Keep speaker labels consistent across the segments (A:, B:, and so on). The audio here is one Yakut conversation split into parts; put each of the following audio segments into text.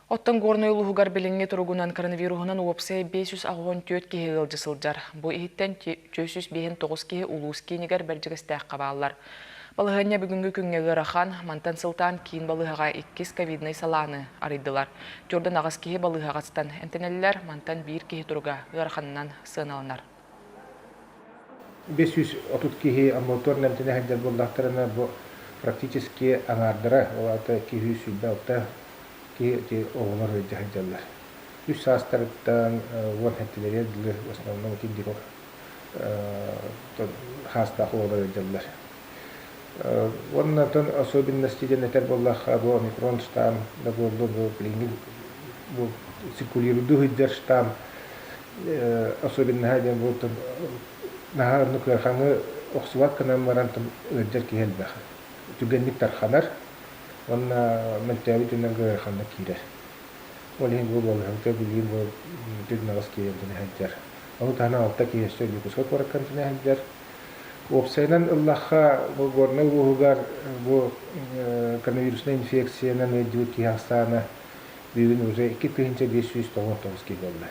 A: Оттон Горнай улууһугар билиҥҥи туругунан коронавируһунан уопсайа биэс сүүс аҕыс уон түөрт киһи ыалдьа сылдьар. Бу иһиттэн түөрт сүүс биэһин тоҕус киһи улуус киинигэр Бэрдьигэстээххэ бааллар. Балаһыанньа бүгүҥҥү күҥҥэ ыарахан, мантан сылтаан киин балыыһаҕа иккис ковиднай салааны арыйдылар. Түөртэн аҕыс киһи балыыһаҕа ыстан эмтэнэллэр, мантан биир киһи туруга ыараханынан сыаналанар. Бэс
B: сүүс отут киһи амбулаторнай эмтэнэ сылдьар буоллахтарына, бу практически аҥаардара, ол аата киһи үс сүүрбэ алта киһи оҕолор ыалдьа сылдьаллар. Үс саастарыттан уон эттилэригэр дылы в основном киндикор саастаах оҕолор ыалдьаллар. Уонна оттон особенности диэн этэр буоллахха, бу омикрон штамм да буоллу, бу билиҥҥи бу циркулируйдуу сылдьар штамм особенноһа диэн буолтун наһаа ону кыархаҥы охсубат гынан баран ыалдьар киһи элбэх түргэнник тарханар уонна мөлтөөбүт үнэн кыархаҥҥа киирэр ол иһин бу болуһабыта билигин бу түрнэҕис киэһэлдэн сылдьар ону таһынан алта киһи өссө Ньукуска куораккантан сылдьар уопсайынан ыллахха бу горнай улууһугар бу коронавируснай инфекциянан ыалдьыбыт киһи ахсаана Бүгүн уже икки тыһыынча биэс сүүс тоҕус тоҕус буолла.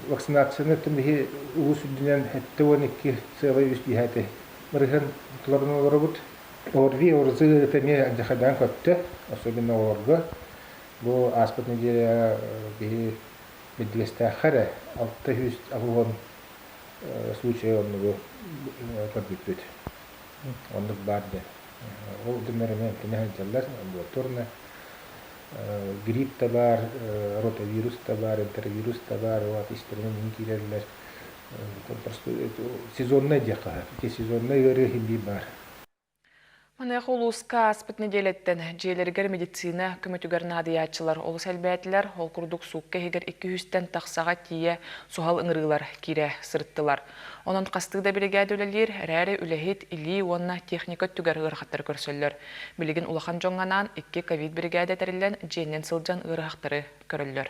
B: Вакцинацияны биһи улуус үрдүнэн эттэ уон икки сыалай үс биһээтэ ырыһын туларын олоробут. Орви орзы это эмиэ дьахайдаан көттө, особенно оҕолорго. Бу ааспыт неделя биһи Бэдилэстээххэ эрэ алта сүүс алуон случая оннугу көрбүппүт. Оннук баар диэн. Ол дэннэр эмиэ кинэ сылдьаллар, амбулаторна. Грипп да баар, ротавирус да баар, энтеровирус да баар, ол аата истэринэн иһин киирэллэр. Сезоннай диэххэ, сезоннай ыарыы иһиллии баар.
A: Маныаха улууска ааспыт нэдиэлэттэн дьиэлэригэр медицина көмөтүгэр наадыйааччылар олус элбээтилэр. Ол курдук суукка иһигэр икки-үстэн тахсаҕа тиийэ суһал ыҥырыылар киирэ сырыттылар. Онон хастыы да биригээдэ үлэлиир эрээри, үлэһит, илии уонна техника өттүгэр ыарахаттары көрсөллөр. Билигин улахан дьоҥҥо анаан икки ковид биригээдэ тэриллэн, дьиэннэн сылдьан ыарыһахтары көрөллөр.